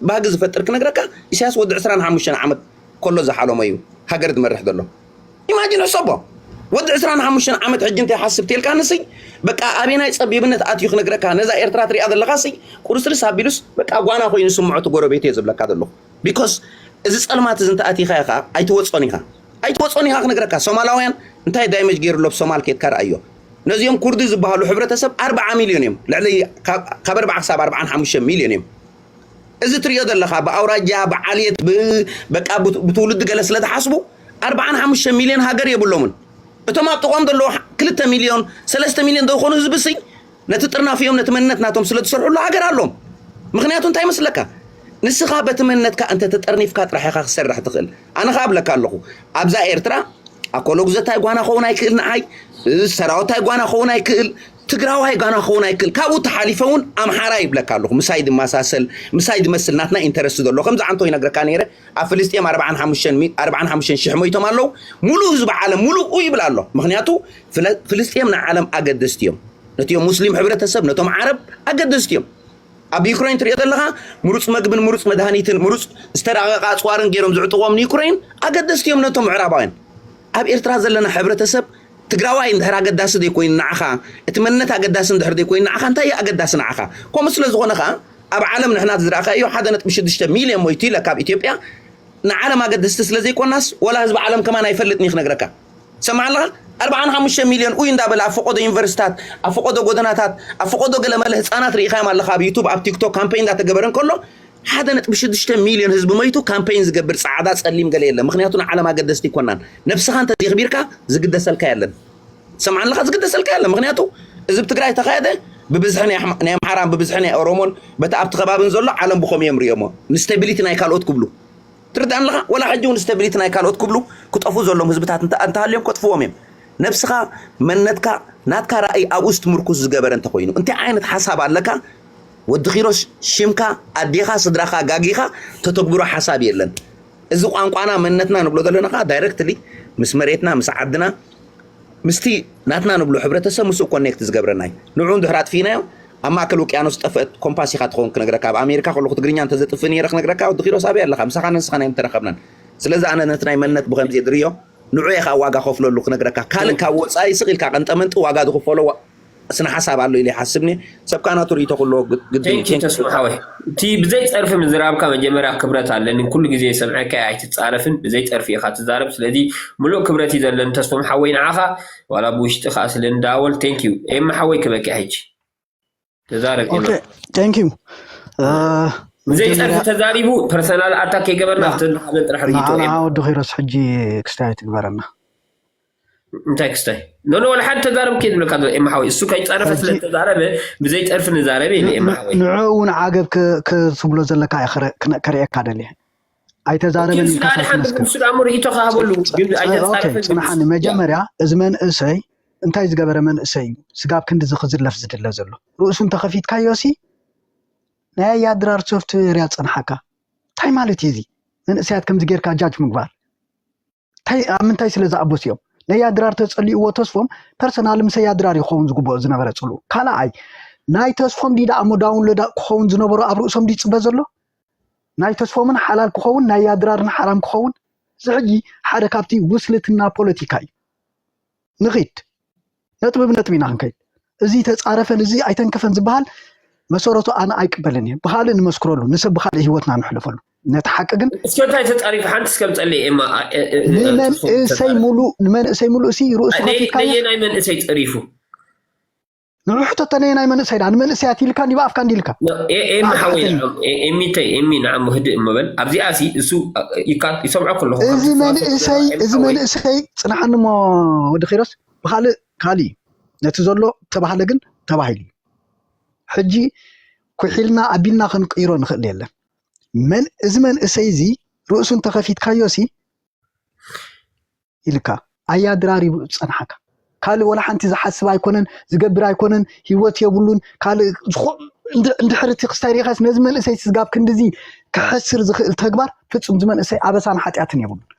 ባህጊ ዝፈጥር ክነግረካ ኢሳያስ ወዲ ዕስራን ሓሙሽተን ዓመት ኮሎ ዝሓሎሞ ኢዩ ሃገር ዝመርሕ ዘሎ ኢማጂን ሕሰቦ ወዲ ዕስራን ሓሙሽተን ዓመት ሕጂ እንታይ ሓስብ ቴልካኒ ስይ በቃ ኣበናይ ጸቢብነት ኣትዩ ክነግረካ ነዛ ኤርትራ ትሪኣ ዘለካ ስይ ቁርስርስ ኣቢሉስ በቃ ጓና ኮይኑ ስምዖ እቲ ጎረቤት ኢየ ዝብለካ ዘለኹ ቢኮስ እዚ ጸልማት እዚ እንተኣቲኻ ኢኻ ኣይትወጾን ኢኻ ኣይትወጾን ኢኻ ክነግረካ ሶማላውያን እንታይ ዳይመጅ ገይሩ ኣሎ ብ ሶማል ኬድካ ርኣዮ ነዚኦም ኩርዲ ዝበሃሉ ሕብረተሰብ ኣርብዓ ሚልዮን እዮም ልዕሊ ካብ ኣርብዓ ክሳብ ኣርብዓን ሓሙሽተ ሚልዮን እዮም እዚ ትሪኦ ዘለኻ ብኣውራጃ ብዓልየት በቃ ብትውልዲ ገለ ስለ ዝሓስቡ ኣርብዓን ሓሙሽተ ሚልዮን ሃገር የብሎምን እቶም ኣብ ጥቕኦም ዘለዎ ክልተ ሚልዮን ሰለስተ ሚልዮን ዘይኮኑ ህዝቢ ስይ ነቲ ጥርናፍ እዮም ነቲ መንነት ናቶም ስለ ዝሰርሕሉ ሃገር ኣሎም ምክንያቱ እንታይ መስለካ ንስኻ በቲ መንነትካ እንተ ተጠርኒፍካ ጥራሕ ኢኻ ክሰርሕ ትኽእል ኣነ ኸኣ ኣብለካ ኣለኹ ኣብዛ ኤርትራ ኣኮሎጉዘታይ ጓና ክኸውን ኣይክእል ንዓይ ሰራወታይ ጓና ክኸውን ኣይክእል ትግራዋይ ጓና ክኸውን ኣይክእል ካብኡ ተሓሊፈ እውን ኣምሓራ ይብለካ ኣለኹ ምሳይ ድመሳሰል ምሳይ ድመስል ናትና ኢንተረስቲ ዘሎ ከምዚ ዓንቶ ይነግረካ ነይረ ኣብ ፍልስጤም 45 ሽሕ ሞይቶም ኣለዉ ሙሉእ ህዝቢ ዓለም ሙሉኡ ይብል ኣሎ ምክንያቱ ፍልስጤም ንዓለም ኣገደስቲ እዮም ነቲ ሙስሊም ሕብረተሰብ ነቶም ዓረብ ኣገደስቲ እዮም ኣብ ዩክረይን ትሪኦ ዘለኻ ምሩፅ መግብን ምሩፅ መድሃኒትን ምሩፅ ዝተራቐቐ ኣፅዋርን ገይሮም ዝዕጥቖም ንዩክረይን ኣገደስቲ እዮም ነቶም ምዕራባውያን ኣብ ኤርትራ ዘለና ሕብረተሰብ ትግራዋይ እንድሕር ኣገዳሲ ዘይኮይኑ ንዓኻ እቲ መንነት ኣገዳሲ እንድሕር ዘይኮይኑ ንዓኻ እንታይ እዩ ኣገዳሲ ንዓኻ ከምኡ ስለ ዝኾነ ከዓ ኣብ ዓለም ንሕና ዝረኣኻ እዩ ሓደ ነጥቢ ሽዱሽተ ሚልዮን ሞይቱ ኢለ ካብ ኢትዮጵያ ንዓለም ኣገደስቲ ስለ ዘይኮናስ ወላ ህዝቢ ዓለም ከማን ኣይፈልጥን እዩ ክነግረካ ትሰምዓኒ ኣለኻ? ኣርብዓን ሓሙሽተን ሚልዮን ኡይ እንዳበለ ኣብ ፈቆዶ ዩኒቨርሲታት ኣብ ፈቆዶ ጎደናታት ኣብ ፈቆዶ ገለመለ ህጻናት ርኢኻዮም ኣለኻ ኣብ ዩቱብ ኣብ ቲክቶክ ካምፔይን እንዳተገበረ እንከሎ ሓደ ነጥቢ ሽዱሽተ ሚልዮን ህዝቢ መይቱ ካምፔይን ዝገብር ጻዕዳ ጸሊም ገለ የለን ምክንያቱ ንዓለም ኣገደስቲ ኣይኮናን ነብስኻ እንተዘይኽቢርካ ዝግደሰልካ የለን ትሰምዓኒ ኣለኻ ዝግደሰልካ የለን ምክንያቱ እዚ ብ ትግራይ ተኻየደ ብብዝሒ ናይ ኣምሓራን ብብዝሒ ናይ ኦሮሞን በቲ ኣብቲ ከባብን ዘሎ ዓለም ብኸምኡ እዮም ርእዮሞ ንስቴቢሊቲ ናይ ካልኦት ክብሉ ትርዳእ ኣለኻ ወላ ሕጂ ውን ስተቢሊቲ ናይ ካልኦት ክብሉ ክጠፉ ዘሎም ህዝብታት እንተሃልዮም ከጥፍዎም እዮም ነብስኻ መንነትካ ናትካ ራእይ ኣብኡ ስትምርኩስ ዝገበረ እንተኾይኑ እንታይ ዓይነት ሓሳብ ኣለካ ወዲ ኪሮስ ሽምካ ኣዴኻ ስድራኻ ጋጊኻ ተተግብሮ ሓሳብ የለን እዚ ቋንቋና መንነትና ንብሎ ዘለና ከዓ ዳይረክትሊ ምስ መሬትና ምስ ዓድና ምስቲ ናትና ንብሎ ሕብረተሰብ ምስኡ ኮኔክት ዝገብረና እዩ። ንዕኡ እንድሕር ኣጥፊእናዮ ኣብ ማእከል ውቅያኖስ ዝጠፍአት ኮምፓስ ኢኻ ትኸውን ክነግረካ ኣብ ኣሜሪካ ከለኹ ትግርኛ እንተዘጥፍእ ነይረ ክነግረካ ወዲ ኪሮስ ኣበይ ኣለኻ ምሳኻን ንስኻን ኣይምተረኸብናን ስለዚ ኣነ ነቲ ናይ መንነት ብኸምዚ እየ ዝርእዮ ንዑ እየ ከኣ ዋጋ ከፍለሉ ክነግረካ ካልእ ካብ ወጻኢ ስቕ ኢልካ ቀንጠመንጢ ዋጋ ዝኽፈሎ ስነ ሓሳብ ኣሎ ኢለ ይሓስብኒ ሰብ ከኣ ናቱ ርእይቶ ክህልዎ ግድን እዩ። Thank you ተስፉ ሓወይ እቲ ብዘይ ጸርፊ ምዝራብካ መጀመርያ ክብረት ኣለኒ ኩሉ ግዜ ዝሰምዐካ እየ ኣይትጻረፍን ብዘይ ጸርፊ ኢካ ትዛረብ ስለዚ ምሉእ ክብረት እዩ ዘለኒ ተስፎም ሓወይ ንዓካ ዋላ ብውሽጢ ከኣ ስለ ንደዋወል Thank you ኤማ ሓወይ ክበኪ ሕጂ ተዛረብ ኦኬ ኤማ ታንክ ዩ ብዘይ ጸርፊ መጀመርያ ተዛሪቡ ፐርሰናል ኣታክ ከይገበርና ና ኣብቲ ንሓበን ጥራሕ ርእይቶ ንዓና ኤማ ወዲ ኪሮስ ሕጂ ክስታይ ኣይትግበረና እንታይ ክስታይ ኖኖ ዋላ ሓደ ተዛረብ ከይድብለካ ዘሎ ኤማ ሓወይ እሱ ከይፀረፈ ሕጂ ስለተዛረበ ብዘይ ፀርፊ ንዛረበ ኢለ ን- ኤማ ን- ሓወይ ንዕኡ እውን ዓገብ ክ- ክትብሎ ዘለካ እየ ክረ- ክነ- ከርእየካ ደልየ ኦኬ ኣይተዛረበን ንሱ ኢልካስ ድሓን ኣይትመስክር ንሱ ድኣ እሞ ርእይቶ ክሃበሉ ግን ጸ- ኦኬ ኣይተዛረፈን ግን ንሱ ፅናሓኒ ያ መጀመርያ እዚ መንእሰይ እንታይ ዝገበረ መንእሰይ እዩ ስጋብ ክንዲዚ ክዝለፍ ዝድለ ዘሎ ርእሱ እንተኸፊትካዮ ሲ ናይ ኣያ ድራር ሶፍትዌር እያ ፅንሓካ እንታይ ማለት እዩ እዚ መንእሰያት ከምዚ ጌርካ ጃጅ ምግባር ታይ ኣብ ምንታይ ስለ ዝኣበሱ እዮም ነያ ድራር ተጸሊእዎ ተስፎም ፐርሰናል ምሰያ ድራር ይኸውን ዝግብኦ ዝነበረ ጽሉ ካልኣይ ናይ ተስፎም ዲ ደኣሞ ዳውንሎድ ክኸውን ዝነበሮ ኣብ ርእሶም ዲ ጽበ ዘሎ ናይ ተስፎምን ሓላል ክኸውን ናይ ያድራርን ሓራም ክኸውን እዚ ሕጂ ሓደ ካብቲ ውስልትና ፖለቲካ እዩ ንኺድ ነጥቢ ብነጥቢ ኢና ክንከይድ እዚ ተፃረፈን እዚ ኣይተንከፈን ዝበሃል መሰረቱ ኣነ ኣይቅበልን እየ ብካልእ ንመስክረሉ ንሰብ ብካልእ ሂወትና ንሕለፈሉ ነቲ ሓቂ ግን እስከ እንታይ ተፃሪፉ ሓንቲ እስከ ምፀለይ ኤማ ኣ- እ- እ- እ- ንመንእሰይ ተፃሪፉ። ሙሉእ ንመንእሰይ ሙሉእ ሲ ርእሱ ነይ- ከፊትካ እያ ነየናይ መንእሰይ ፀሪፉ ንዑ ሕተቶ ነየናይ መንእሰይ ድኣ ንመንእሰያት ኢልካ እንዲ ብኣፍካ እንዲ ኢልካ ነ- ኤ- ኤሚ ንዓካ ሓወይ ሕተኒ ንዓም ኤ- ኤሚተይ ኤሚ ንዓም ህድእ እመበል ኣብዚኣ ሲ እሱ አ- ይካ- ይሰምዖ ከለኹ እዚ ከምዚ ሰዋሰው መንእሰይ ገዛ ኤሚ እዚ ሓወይ መንእሰይ ፅናሓኒ እሞ ወዲ ኪሮስ ብኻልእ ካሊ ነቲ ዘሎ ተባህለ ግን ተባሂሉ እዩ ሕጂ ኩሒልና ኣቢልና ክንቅይሮ ንኽእል የለን መን እዚ መንእሰይ እዚ ርእሱ እንተኸፊትካዮ ሲ ኢልካ ኣያ ድራሪቡ ዝጸንሓካ ካልእ ወላ ሓንቲ ዝሓስብ ኣይኮነን ዝገብር ኣይኮነን ሂወት የብሉን ካልእ እንድሕር እቲ ክስታይ ሪኢኻስ ነዚ መንእሰይ ስጋብ ክንዲዚ ክሕስር ዝኽእል ተግባር ፍጹም ዝመንእሰይ ኣበሳን ሓጢኣትን የብሉን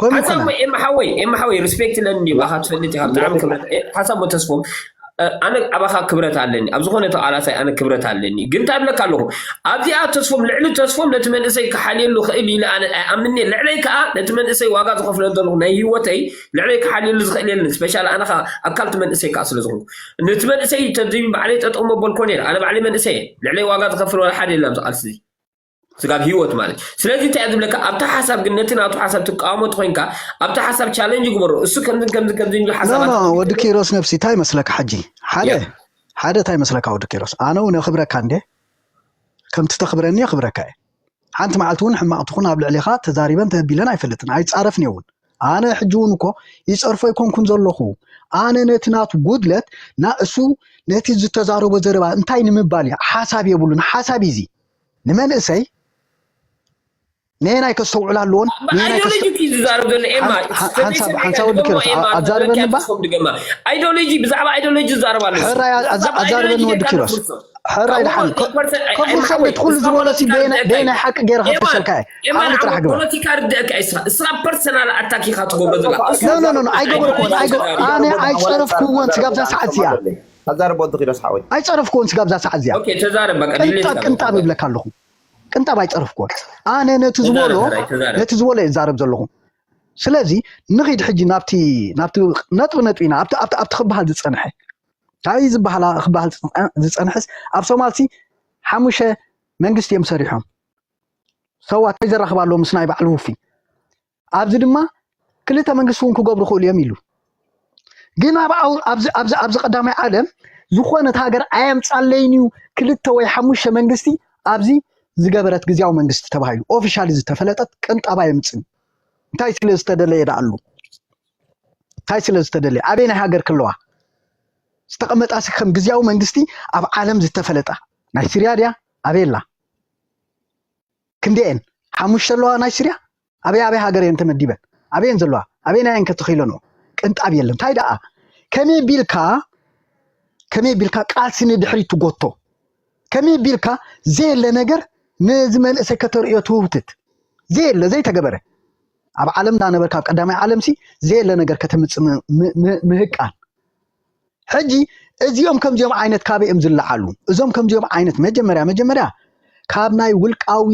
ከምኡ ሓሳብ ኮነ ኤማ ሓወይ ኤማ ሓወይ ሪስፔክት ኣለኒ ባኻ ትፈልጥ ኢኻ ብጣዕሚ ክብረት ሓሳብ ተስፎም ኣነ ኣባኻ ክብረት ኣለኒ ኣብ ዝኾነ ተቃላሳይ ኣነ ክብረት ኣለኒ ግን እንታይ ብለካ ኣለኹ ኣብዚኣ ተስፎም ልዕሊ ተስፎም ነቲ መንእሰይ ክሓልየሉ ክእል ኢለ ኣነ ኣይኣምንኒ ልዕለይ ከዓ ነቲ መንእሰይ ዋጋ ዝኸፍለ ዘለኹ ናይ ህይወተይ ልዕለይ ክሓልየሉ ዝኽእል የለን ስፔሻል ኣነ ከዓ ኣካልቲ መንእሰይ ከዓ ስለ ዝኾንኩ ነቲ መንእሰይ ተዚ ባዕለይ ጠጠው መበልኮ ነይረ ኣነ ባዕለይ መንእሰይ እየ ልዕለይ ዋጋ ዝኸፍል ዋላ ሓደ የለን ኣብዚ ቃልሲ እዚ ስጋብ ህይወት ማለት እዩ። ስለዚህ እንታይ እዩ ዝብለካ ኣብቲ ሓሳብ ግን ነቲ ናቱ ሓሳብ ትቃወሞ እንተኮይንካ ኣብቲ ሓሳብ ቻለንጅ ግበሮ እሱ ከምዚ ከምዚ ከምዚ ዝብሉ ኖ ሓሳባት ኖ ወዲ ኪሮስ ነብሲ እንታይ መስለካ ሕጂ ሓደ ያ ሓደ እንታይ መስለካ ወዲ ኪሮስ ኣነ እውን የኽብረካ እንደ ከምቲ ተኽብረኒ የኽብረካ እየ ሓንቲ መዓልቲ እውን ሕማቕ ትኹን ኣብ ልዕሌኻ ተዛሪበን ተቢለን ኣይፈልጥን ኣይፃረፍን እየ እውን ኣነ ሕጂ እውን እኮ ይፀርፎ ኣይኮንኩን ዘለኹ ኣነ ነቲ ናቱ ጉድለት ና እሱ ነቲ ዝተዛረቦ ዘረባ እንታይ ንምባል እዩ ሓሳብ የብሉን ሓሳብ እዩ እዚ ንመንእሰይ ነየናይ ከስተውዕል ኣለዎን ኣይዶሎጂ እዩ ዝዛረብ ዘሎ ኤማ ሓንሳብ ወዲ ኪሮስ ኣዛርበኒ እባ ኣይዶሎጂ ብዛዕባ ኣይዶሎጂ ዝዛረብ ኣሎ ሕራይ ኣዛርበኒ ወዲ ኪሮስ ሕራይ ድሓን ከፍር ሰንበት ኩሉ ዝበሎ ሲ በየናይ ሓቂ ገይረ ከፍርሰልካ እየ ዓቕሊ ጥራሕ ግበር ፖለቲካ ርድአካ እዩ ስራ ስራ ፐርሰናል ኣታክ ኢኻ ትገብሮ ዘላ ኖ ኖ ኖ ኣይገበርኩዎን ኣነ ኣይፀረፍኩዎን ስጋብዛ ሰዓት እዚኣ ኣዛርብ ወዲ ኪሮስ ሓወይ። ኣይጸረፍክዎን ስጋብ እዛ ሰዓት እዚኣ ኦኬ ተዛረብ በቃ ድሌት ቅንጣብ ካብ ቅንጣብ ተዛረብ እብለካ ኣለኹ ቅንጣብ ኣይጸረፍክዎን ኣነ ነቲ ዝበሎ ተዛረብ ተራይ ተዛረብ ነቲ ዝበሎ እየ ዝዛረብ ዘለኹ ስለዚ ንኺድ ሕጂ ናብቲ ናብቲ ነጥቢ ነጥቢ ኢና ኣብቲ ኣብቲ ኣብቲ ክበሃል ዝጸንሐ እንታይ ዝበሃላ ክበሃል ዝጸንሐ- ዝጸንሐስ ኣብ ሶማልሲ ሓሙሸ መንግስቲ እዮም ሰሪሖም ሰዋት እንታይ ዘራኽብ ኣለዎ ምስ ናይ ባዕሉ ውፊ ኣብዚ ድማ ክልተ መንግስቲ እውን ክገብሩ ክእሉ እዮም ኢሉ ግን ኣብዚ ቀዳማይ ዓለም ዝኾነት ሃገር ኣየምፃለይን እዩ ክልተ ወይ ሓሙሽተ መንግስቲ ኣብዚ ዝገበረት ግዜያዊ መንግስቲ ተባሂሉ ኦፊሻሊ ዝተፈለጠት ቅንጣብ ኣየምፅን እንታይ ስለ ዝተደለየ ዳኣሉ እንታይ ስለ ዝተደለየ ኣበይ ናይ ሃገር ክለዋ ዝተቐመጣ ሲ ከም ግዜያዊ መንግስቲ ኣብ ዓለም ዝተፈለጣ ናይ ስርያ ድያ ኣበየላ ክንደኤን ሓሙሽተ ኣለዋ ናይ ስርያ ኣበይ ኣበይ ሃገር እየን ተመዲበን ኣበየን ዘለዋ ኣበየናይ እየን ከተኺለንኦ ቅንጣብ የለን እንታይ ደኣ ከመይ ቢልካ ከመይ ቢልካ ቃልሲ ንድሕሪት ትጎቶ ከመይ ቢልካ ዘየለ ነገር ነዚ መንእሰይ ከተርእዮ ትውትት ዘየለ ዘይተገበረ ኣብ ዓለም እንዳነበርካ ኣብ ቀዳማይ ዓለምሲ ዘየለ ነገር ከተምፅእ ምህቃን ሕጂ እዚኦም ከምዚኦም ዓይነት ካበይ እዮም ዝለዓሉ? እዞም ከምዚኦም ዓይነት መጀመርያ መጀመርያ ካብ ናይ ውልቃዊ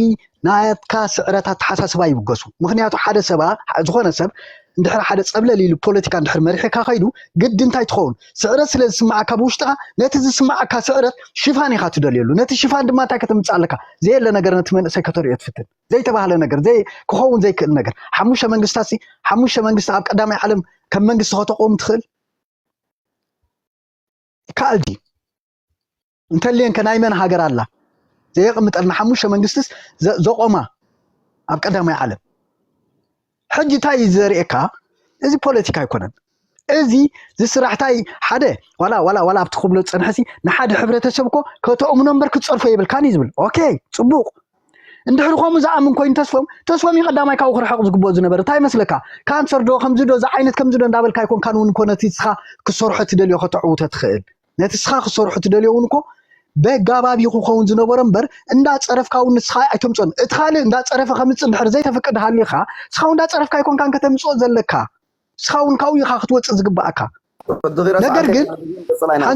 ናትካ ስዕረት ኣተሓሳስባ ይብገሱ። ምክንያቱ ሓደ ሰባ ዝኾነ ሰብ እንድሕር ሓደ ጸብለል ኢሉ ፖለቲካ እንድሕር መሪሕካ ከይዱ ግዲ እንታይ ትኸውን ስዕረት ስለ ዝስምዓካ ብውሽጥኻ ነቲ ዝስምዓካ ስዕረት ሽፋን ኢኻ ትደልየሉ ነቲ ሽፋን ድማ እንታይ ከተምጽእ ኣለካ ዘየለ ነገር ነቲ መንእሰይ ከተርእዮ ትፍትን ዘይተባህለ ነገር ዘይ ክኸውን ዘይክእል ነገር ሓሙሽተ መንግስታት ሓሙሽተ መንግስቲ ኣብ ቀዳማይ ዓለም ከም መንግስቲ ከተቆም ትኽእል ይከኣል ድዩ እንተልየን ከናይ መን ሃገር ኣላ ዘየቕምጠልና ሓሙሽተ መንግስትስ ዘቆማ ኣብ ቀዳማይ ዓለም ሕጂ እንታይ እዩ ዘርእየካ እዚ ፖለቲካ ኣይኮነን እዚ ዝስራሕታይ ሓደ ዋላ ዋላ ዋላ ኣብቲ ክብሎ ዝፀንሐሲ ንሓደ ሕብረተሰብ እኮ ከተእምኖ እምበር ክትፀርፎ የብልካን እዩ ዝብል ኦኬ ፅቡቅ እንድሕሪ ከምኡ ዝኣምን ኮይኑ ተስፎም ተስፎም እዩ ቀዳማይ ካብኡ ክርሕቕ ዝግብኦ ዝነበረ እንታይ ይመስለካ ካንሰር ዶ ከምዚ ዶ ዝዓይነት ከምዚ ዶ እንዳበልካ ኣይኮንካን እውን እኮ ነቲ ስኻ ክሰርሖ ትደልዮ ከተዕውቶ ትኽእል ነቲ ስኻ ክሰርሖ ትደልዮ እውን እኮ በጋባብ እዩ ክኸውን ዝነበሮ እምበር እንዳፀረፍካ እውን ንስኻ ኣይተምፅኦን እቲ ካልእ እንዳፀረፈ ከምፅ እንድሕር ዘይተፍቅድ ሃሊኻ ስኻ እውን እንዳፀረፍካ ኣይኮንካን ከተምፅኦ ዘለካ ስኻ እውን ካብኡ ኢኻ ክትወፅእ ዝግባእካ ነገር ግን